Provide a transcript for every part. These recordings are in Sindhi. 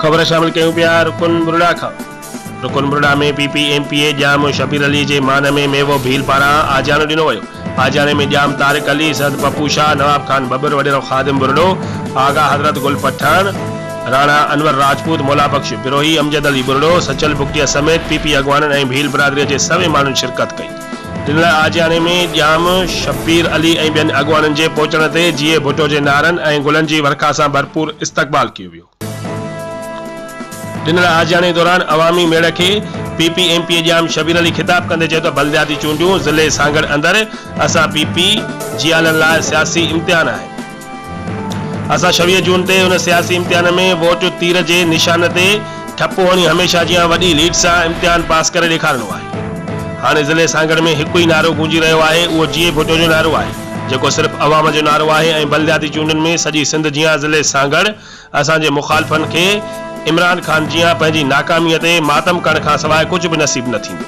خبر شامل ڪيون پيا رڪن برڙا کان رڪن برڙا ۾ P P M P A Jam Shabbir Ali جي مان ۾ ميوو ڀيل پاران آجياڻو ڏنو ويو آجياڻي ۾ ڄام طارق علي، سيد پپو شاهه، نواب خان ٻٻر، وڏيرو خادم ٻرڙو، آغا حضرت گل پٺاڻ، راڻا انور راجپوت، مولا بخش بروهي، امجد علي ٻرڙو، سچل بگٽيا سميت پي پي اڳواڻن ۽ ڀيل برادريء جي سوين ماڻهن شرڪت ڪئي. ڏنل آجياڻي ۾ ڄام شبير علي ۽ ٻين اڳواڻن جي پهچڻ تي جيئي ڀٽو جي نعرن ۽ گلن جي ورکا سان ڀرپور استقبال ڪيو ويو. ڏنل آجياڻي دوران عوامي ميڙ کي P P M P Jam Shabbir Ali خطاب ڪندي چيو ته بلدياتي چونڊون ضلعي سانگهڙ اندر اسان پي پي جيالن لاء سياسي امتحان آهي اسان ڇويهه جون تي ان سياسي امتحان ۾ ووٽ تير جي نشان تي ٺپو هڻي هميشه جيان وڏي ليڊ سان امتحان پاس ڪري ڏيکارڻو آهي هاڻي ضلعي سانگهڙ ۾ هڪ ئي نعرو گونجي رهيو آهي اهو جيئي ڀٽو جو نعرو آهي. جيڪو صرف عوام جو نعرو آهي ۽ بلدياتي چونڊن ۾ سڄي سنڌ جيان ضلعي سانگهڙ اسان جي مخالفن کي عمران خان جيان پنهنجي ناڪامي تي ماتم ڪرڻ کان سواء ڪجهه به نصيب نه ٿيندو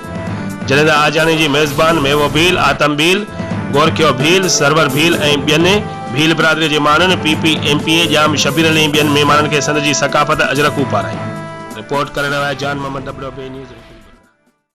جڏهن ته آجياڻي جي ميزبان ميوو ڀيل، آتم ڀيل، گورکيو ڀيل، سرور ڀيل ۽ ٻين ڀيل برادري جي ماڻهن P P M P A Jam Shabbir Ali ۽ ٻين مهمانن کي سنڌ جي ثقافت اجرڪون پارايون. رپورٽ ڪرڻ لاء جان محمد ڏٻڏو، بي نيوز، رڪن بلا.